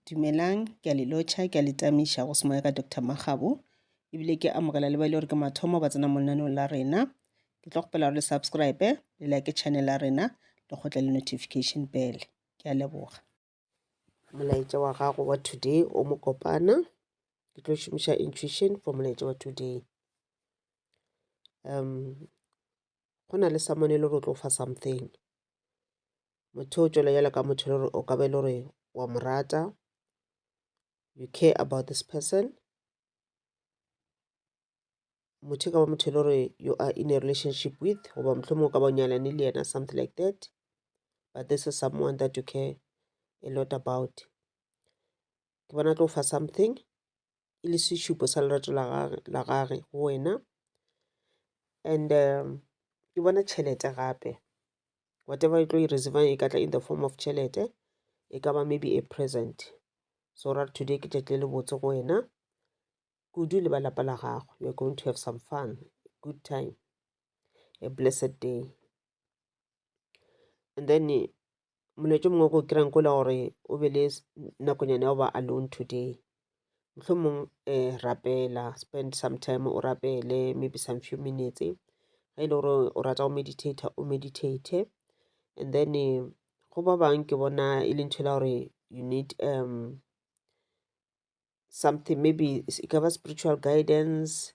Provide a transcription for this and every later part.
Dumelang, ke a le lotšha, ke a le tamiša go semoya ka Doctor Makgabo, ebile ke amogela le ba e le gore ke mathomo ba tsena mo lenaneong la rena. Ke tlo kgopela gore le subscribe, le like channel ya rena, le kgotle le notification bell. Ke a leboga. Molaetša wa gago wa today o mo kopana. Ke tlo šomiša intuition for molaetša wa today. Um, go na le someone e le gore o tlo fa something. motho o tšwela jalo ka motho le gore o ka be le gore wa mo rata you care about this person motho e ka ba motho e le gore you are in a relationship with goba mohlomong o ka ba nyalane le yena something like that but this is someone that you care a lot about ke bona tlo fa something e le sešupo sa lerato la gagwe la gagwe go wena and um, ke bona tšhelete gape whatever e tlo e reserve e ka tla in the form of tšhelete e ka ba maybe a present so ra today ke tšatši le botse go wena kudu le ba lapa la gago you're going to have some fun good time a blessed day and then molaetšo mongwe go kry-ang ko le gore o be le nakonyana ya go ba alone today mohlomong um rapela spend some time o rapele maybe some few minutes ge e le gore o rata go meditate o meditate and then eh, go ba bang ke bona e le ntho e la gore you need um something maybe e ka ba spiritual guidance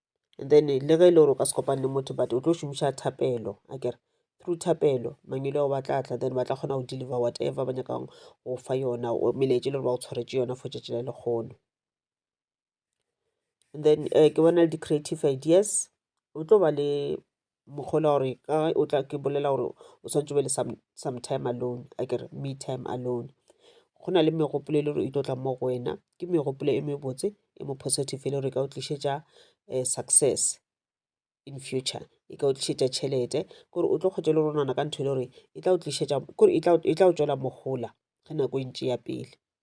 and then le ge e le gore o ka se kopane le motho but o tlo šomiša thapelo a kere through thapelo mangwele ao ba tla tla then ba tla kgona go deliver whatever ba nyakang go fa yona melaetša e le gore ba go tshwaretše yona for tšatši la lekgono and then um ke bona le di-creative ideas o tlo ba le mokgolwa gore ka o tla ke bolela gore o swantse be le some, some time alone a kere me time alone go na le megopolo e le gore e tlo tla mo go wena ke megopolo e mebotse e mo positive e le gore e ka o tlišetša um success in future e ka o tlišetša tšhelete kore o tlo kgwetša le ronana ka ntho e le gore e tla o tlišetša kore e tla o tšwela mogola ge nako e ntše ya pele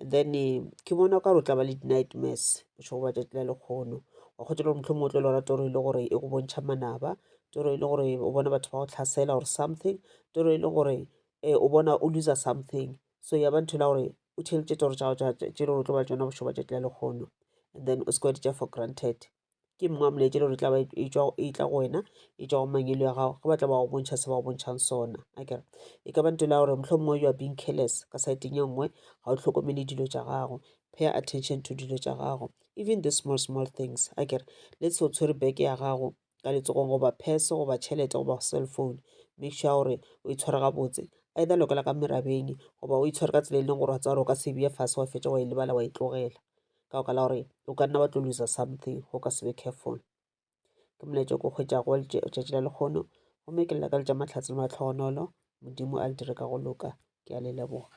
and then eh, ke bona o ka re o tla ba le di-nightmares o tšho go ba tšatši la lekgono wa kgotsa le gore motlho motlo lora toro e le gore e go bontšha manaba toro e le gore o bona batho ba go tlhasela or something toro e le gore um o bona o loser something so ya ba ntho la gore o theletše toro tša gago tše le gore o tlo ba tsona bošoba tšatši la lekgono and then o se kwa ditša for granted ke mma molaetša le gore tla ba e tšwa e tla go wena e tšwa go mangelo ya gago ge ba tla ba go bontšha se ba go bontšhang sona akere e ka ba nto la gore mohlomongwe mongwe you are being careless ka saeteng ye nngwe ga o tlhokomele dilo tša gago pay attention to dilo tša gago even the small small things akere le se o tshwere beke ya gago ka letsogong goba phese goba tšhelete goba cell phone make sure gore o e tshware gabotse either lokela ka merabeng goba o e tshware ka tsela e leng gore wa tsa gore o ka se beye fase wa fetša wa e lebala wa e tlogela ka baka la gore o ka nna wa tlo loser something go ka se be careful ke molaetša ko kgwetšago wa letšatši la lekgono gomme ke lela ka letša mahlatse le matlhogonolo modimo a le dire ka go loka ke a le leboga